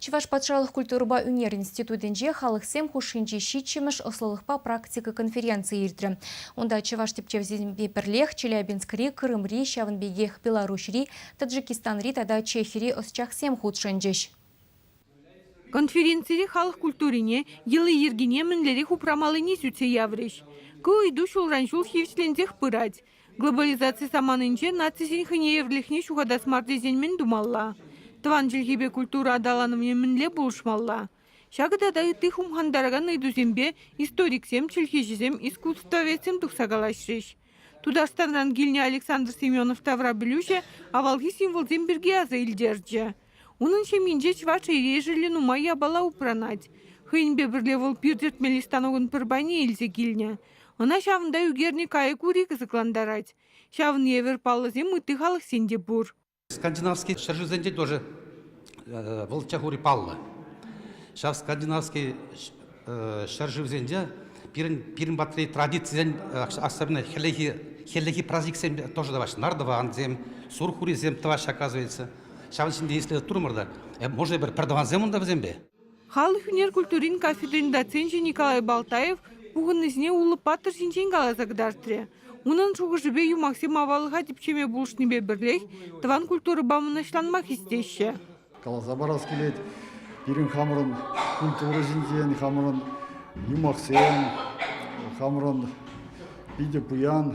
Чӑваш патшалӑх культурӑпа ӳнер институтӗнче халӑхсем хушшинчи ҫиччӗмӗш ӑслӑлӑхпа практика конференцийӗ иртрӗ. Унта чӑваш тӗпчевҫисемпе пӗрлех Челябинскри, Крымри, ҫавӑн пекех Беларуҫри, Таджикистанри тата Чехири ӑсчахсем хутшӑнчӗҫ. Конференцире халӑх культурине, йӑли-йӗркине мӗнлерех упрамаллине сӳтсе яврӗҫ. Ку ыйту ҫулран ҫул хирӗҫленсех пырать. Глобализаци саманинче нацисен хӑйнеевӗрлӗхне ҫухатас мар тесен мӗн тумалла? Тӑван чӗлхепе культура аталанӑвне мӗнле пулӑшмалла? Ҫакӑ тата ытти хумхантаракан ыйтусемпе историксем, чӗлхеҫӗсем, искусствоведсем тухса калаҫрӗҫ. Тутарстанран килнӗ Александр Семенов таврапӗлӳҫӗ авалхи символсем пирки аса илтерчӗ. Унӑн ҫемйинче чӑваш ешӗлӗ нумай япала упранать. Хӑйӗнпе пӗрле вӑл пир тӗртмелли станокӑн пӗр пайне илсе килнӗ. Ӑна ҫавӑнта ӳкернӗ кайӑк ури кӑсӑклантарать. Ҫавӑн евӗр паллӑсем ытти халӑхсен те пур. Скандинавский ҫӗршывсенче тоже вӑлччах ури паллӑ. Ҫав скандинавский ҫӗршывсенче пирӗн пирӗн патри традицисен, особенно хӗллехи хӗллехи праздниксем тоже тӑваҫҫӗ. Нардова ансем, сурхурисем тӑваҫҫӗ, оказывается. Ҫавӑн ҫинче ислет турӑмӑр та. Може пӗр пӗртӑвансем унта вӗсемпе? Халӑх ӳнер культурин кафедрин доценчӗ Николай Балтаев пухӑннисене Улӑп паттӑр ҫинчен каласа кӑтартрӗ. Унӑн шухӑшӗпе юмахсем аваллӑха типчеме пулӑшнипе пӗрлех тӑван культурӑпа мӑнаҫланма хистеҫҫӗ. Каласа парас килет, пирӗн хамӑрӑн культура ҫинчен, хамӑрӑн юмахсем, хамӑрӑн питӗ пуян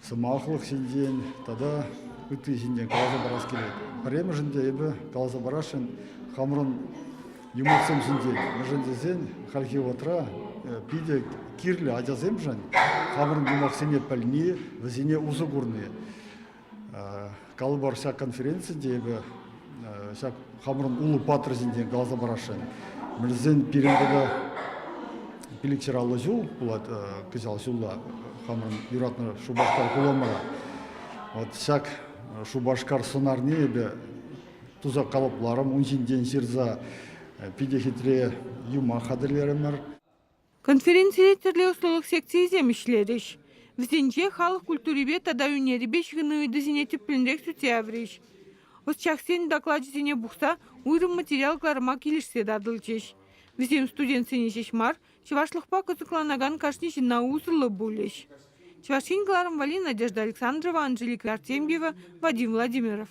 сӑмахлӑх ҫинчен тата ытти ҫинчен каласа парас килет. Пӗрремӗшӗн те эпӗ каласа парасшӑн хамӑрӑн юмахсем ҫинчен. Мӗншӗн тесен хальхи вӑхӑтра питӗ кирлӗ ачасемшӗн хамӑрӑн юмахсене пӗлни, вӗсене усӑ курни. Калӑпӑр, ҫак конференци те эпӗ ҫак хамӑрӑн улӑп паттӑр ҫинчен каласа парасшӑн. Мӗншӗн пирӗн тата пилӗкҫӗр аллӑ ҫул пулать кӑҫал ҫулла хамӑрӑн юратнӑ Шупашкар хуламӑра. Вот ҫак Шупашкар сӑнарне эпӗ туса калӑпларӑм, ун ҫинчен ҫырса питӗ хитре юмах хатӗрлерӗмӗр. Конференцире тӗрлӗ ӑслӑлӑх секцийӗсем ӗҫлерӗҫ. Вӗсенче халӑх культурипе тата ӳнерӗпе ҫыхӑну ыйтусене тӗплӗнрех сӳтсе яврӗҫ. Ӑсчахсен докладӗсене пухса уйрӑм материал кӑларма килӗшсе татӑлчӗҫ. Вӗсем студентсене ҫеҫ мар, чӑвашлӑхпа кӑсӑкланакан кашни ҫынна усӑллӑ пулӗҫ. Чӑваш Ен кӑларӑм валли Надежда Александрова, Анжелика Артемьева, Вадим Владимиров.